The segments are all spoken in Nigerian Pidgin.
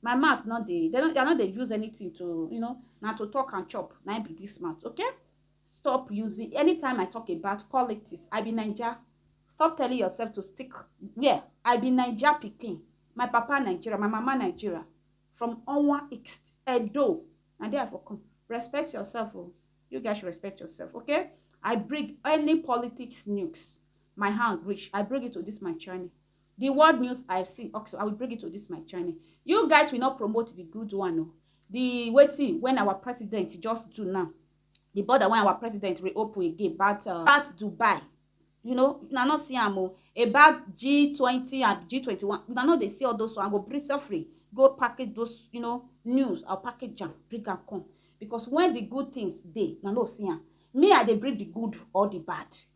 My mouth no dey, dem no, I no dey use anything to, you know, na to talk and chop na im be this mouth, okay? Stop using, anytime I talk about politics, I be Naija, stop telling yourself to stick where? I be Naija pikin, my papa Nigeria, my mama Nigeria, from Onwa East, Edo, na there I for come, respect yourself o, you guys should respect yourself, okay? I bring any politics nukes, my hand reach, I bring it to this my channel. The world news I have seen also, I will bring it to this my channel. You guys will not promote the good one. No. The waiting when our president just do now. The border when our president reopen again about, uh, about Dubai. You know, you not see am o. About G20 and G21. You know they see all those one. Go bring free. Go package those, you know, news or package jam. Bring and come. Because when the good things dey, na no see am. Me, I dey bring the good or the bad.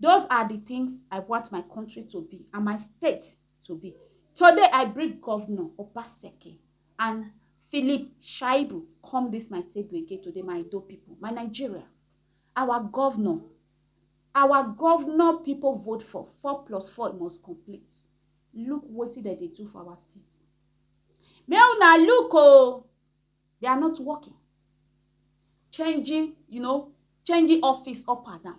Those are the things I want my country to be and my state to be. Today, I bring Governor Obaseki and Philip Shaibu come this my table again today, my Ido people, my Nigerians. Our governor, our governor people vote for four plus four must complete. Look what they do for our state. May una look oh. they are not working changing you know changing office up and down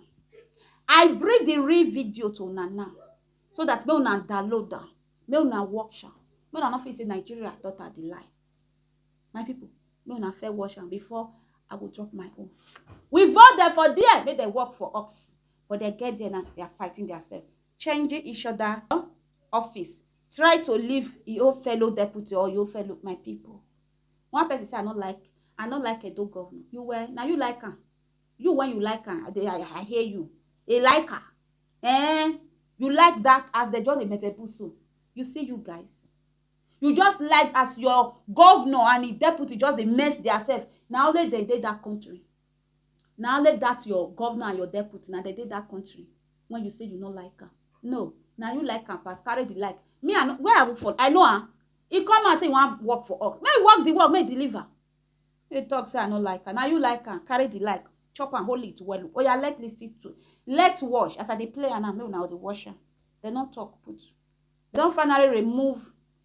i bring the real video to una now so that make una download am make una watch am make una no fit say nigeria daughter dey lie my people make una fair watch am before i go drop my own we vote dem for there make dem work for us but dem get there now they are fighting their self changing each other office try to leave your fellow deputy or your fellow my people one person say i no like i no like edo governor you were na you like am you when you like am i dey i, I hear you a like am eh you like that as they just dey mezebu so you see you guys you just like as your governor and him deputy just dey mess their self na only dem dey that country Na only that your governor and your deputy na dem dey that country when you say you no like am. No, na you like am pass, carry the like. Me I no, where I work for, I know am. He come out say he wan work for us. Make he work the work, make he deliver. Make he talk say I no like am. Na you like am, carry the like, chop am, hold it well. Oya let lis ten to, let watch as I dey play am now, make una dey watch am. Dem don talk put. Dem don finally remove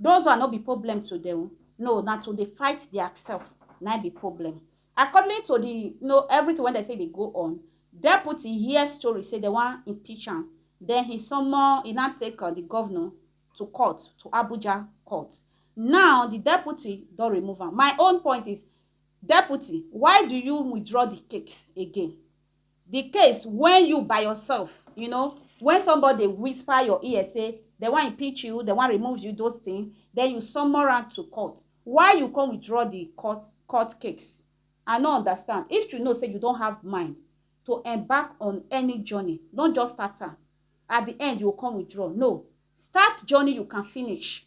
Those one no be problem to dem o, no na to dey fight their self na im be problem. According to the you know everything wey dem say dey go on, Deputy hear story say dem wan impeach am, then he summon he now take the governor to court, to Abuja court. Now the Deputy don remove am. My own point is, Deputy why do you withdraw the case again? The case when you by yourself, you know, when somebody dey whisper your ear say dem wan impeach you, dem wan remove you, those thing, then you summon am to court, why you come withdraw the court court case? I no understand. If you know say you don have mind to embark on any journey, no just start am, at the end you go come withdraw, no, start journey you can finish.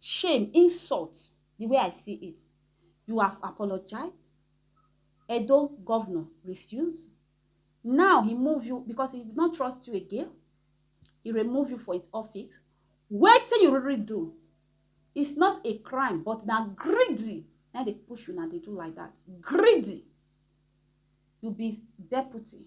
Shame, insult, the way I see it, you have apologize, Edo governor refuse, now he move you because he no trust you again, he remove you for his office, wetin you really do, it's not a crime but na greedy na dey push una dey do like that, greedy, you be deputy.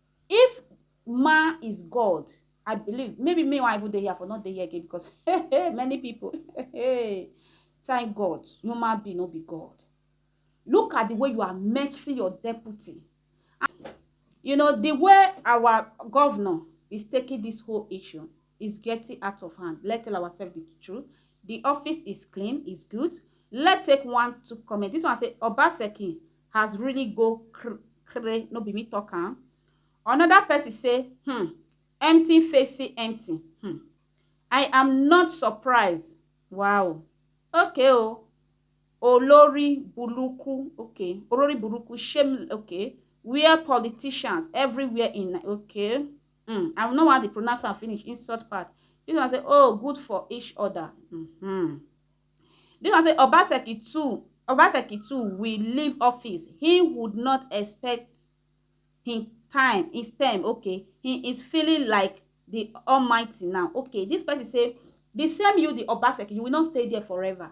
If man is God I believe maybe me wan even dey here I for no dey here again because hey many people hey thank God human being no be God look at the way you are mixing your deputy you know the way our governor is taking this whole issue is getting out of hand let tell ourselves the truth the office is clean is good let take one to comment this one say obaseki has really go cr cray no be me talk am another person say hmm empty face see empty hmm i am not surprised wow okay o oh. olori buruku okay olori buruku shame okay where politicians everywhere in okay Um I no wan dey pronounce am finish insult part. This one say oh good for each other um. This one say Obaseki too Obaseki too will leave office he would not expect him time his term okay he is feeling like the almighty now okay this person say the same you the Obaseki you will not stay there forever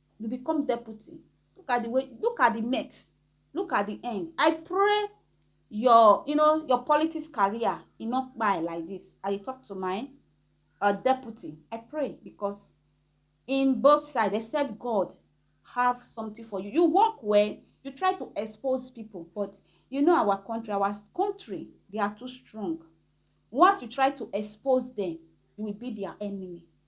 you become deputy look at the way look at the mess look at the end i pray your you know your politics career e no kpai like this i dey talk to my uh, deputy i pray because in both sides except god have something for you you work well you try to expose people but you know our country our country they are too strong once you try to expose them you will be their enemy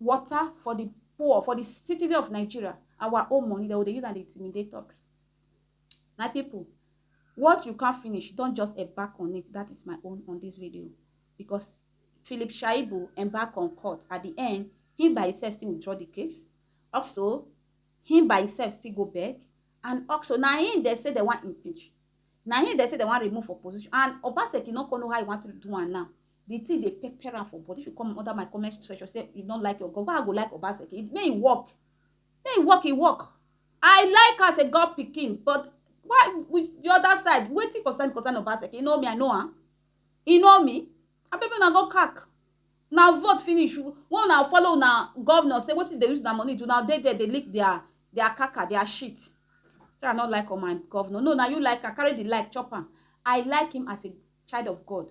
water for di poor for di citizen of nigeria our own money dem go dey use am dey intimidate us my people what you can't finish don just embark on it that is my own on this video because philip shaibu embark on court at the end he by himself still withdraw the case also he by himself still go beg and also na him dey say dem wan impeach na him dey say dem wan remove for position and obaseki no come know how he want to do am now The thing dey pepper am for body. If you come under my comment section say you don't like your God, why I go like Obaseki? May he work. May he work, he work. I like am as a God pikin, but why with the other side? Wetin concern concern Obaseki? You know me, I know am. You know me? Abeg make una go kak. Una vote finish. When una follow una governor say wetin dey use una money do, una dey there dey lick their their kaka, their shit. Say I no like on my governor. No, na you like am. Carry the like, chop am. I like him as a child of God.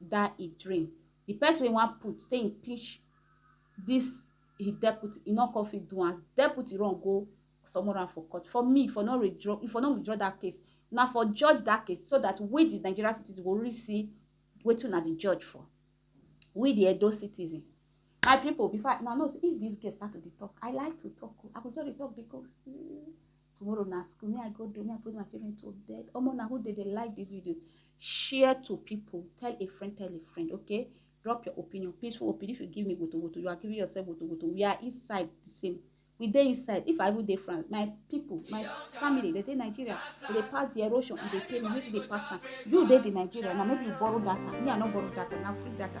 dat e dream di pesin wey e wan put take impeach dis e deputy e no come fit do am deputy run go summon am for court for me e for no withdraw e for no withdraw dat case una for judge dat case so dat we di Nigeria citizen go really see wetin una dey judge for we di Edo citizen my pipu before I una know sey if dis girl start to dey talk I like to talk oh I go just dey talk dey go tomorrow na school me i go do me i put my children to bed omo na who dey dey like this video share to people tell a friend tell a friend okay drop your opinion peaceful opinion if you give me wotowoto you are giving yourself wotowoto we are inside the same we dey inside if i even dey france my people my family dey dey nigeria we dey pass the erosion we dey pay money we dey pass am you dey the nigeria na maybe you borrow data me i no borrow data na free data